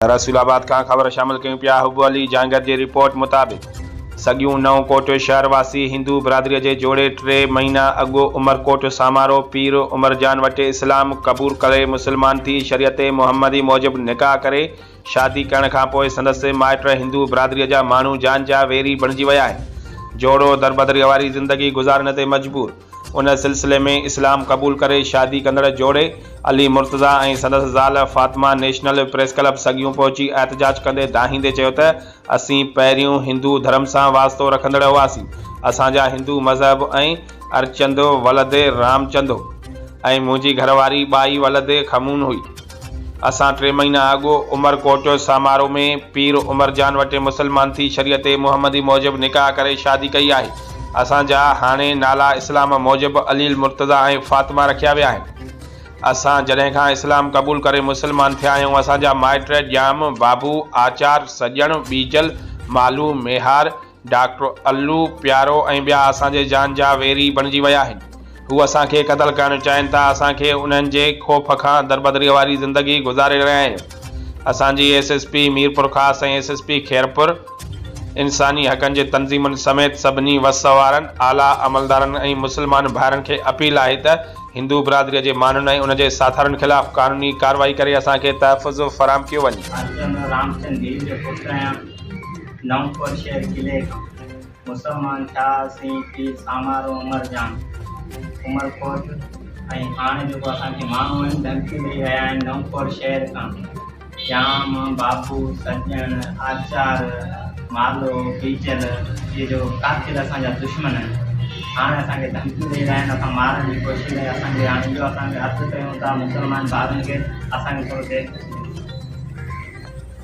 رسول آباد کان خبر شامل ڪيون پيا حب علي جهانگير جي رپورٽ مطابق سڳيون نئون ڪوٽ شهر واسي هندو برادري جي جوڙي ٽي مهينا اڳ عمرڪوٽ سامارو پير عمرجان وٽ اسلام قبول ڪري مسلمان ٿي شريعت محمدي موجب نڪاح ڪري شادي ڪرڻ کان پوء سندس مائٽ هندو برادري جا ماڻهو جان جا ويري بڻجي ويا آهن جوڙو دربدريء واري زندگي گذارڻ تي مجبور ان سلسلي ۾ اسلام قبول ڪري شادي ڪندڙ جوڙي علي مرتضيٰ ۽ سندس زال فاطمه نيشنل پريس ڪلب سگيون پهچي احتجاج ڪندي دانهيندي چيو ته اسين پهريون هندو ڌرم سان واسطو رکندڙ هئاسين اسان جا هندو مذهب ۽ ارچندو ولدي رامچندو ۽ منهنجي گهرواري ٻائي ولدي کمون هئي. اسان ٽي مهينا اڳ عمر ڪوٽ سامارو ۾ پير عمر جان وٽ مسلمان ٿي شريعت محمدي موجب نڪاح ڪري شادي ڪئي آهي. اسان جا هاڻي نالا اسلام موجب علي المرتضيٰ ۽ فاطمه رکيا ويا آهن. اسان جڏهن کان اسلام قبول ڪري مسلمان ٿيا آهيون اسان جا مائٽ ڄام، بابو، آچار، سڄڻ، ٻيجل، مالهو، ميهار، ڊاڪٽر الو پيارو ۽ ٻيا اسان جي جان جا ويري بڻجي ويا آهن. هو اسان کي قتل ڪرڻ چاهين ٿا. اسان کي انهن جي خوف کان دربدريء واري زندگي گذاري رهيا آهيون. اسان جي S S P Mirpurkhas ۽ S S P Khairpur, انساني حقن جي تنظيمن سميت سڀني وس وارن اعليٰ عملدارن ۽ مسلمان ڀائرن کي اپيل آهي ته هندو برادريء جي ماڻهن ۽ ان جي ساٿارن خلاف قانوني ڪارروائي ڪري اسان کي تحفظ فراهم ڪيو وڃي. نئونڪوٽ شهر قلعي کان مسلمان ٿيا سين پير سامارو عمر جان عمر ڪوٽ ۽ هاڻي جيڪو اسان کي ماڻهو آهن ڌمڪي ڏئي رهيا آهن نئونڪوٽ شهر کان جام بابو سڄڻ آچار مالو بيجل اهي جو قاتل اسان جا دشمن آهن هاڻي اسان کي ڌمڪي ڏئي رهيا آهن اسان مارڻ جي ڪوشش لاء اسان کي هاڻي اهو اسان کي عرض ڪيون ٿا مسلمان ڀائرن کي اسان کي ٿورو دير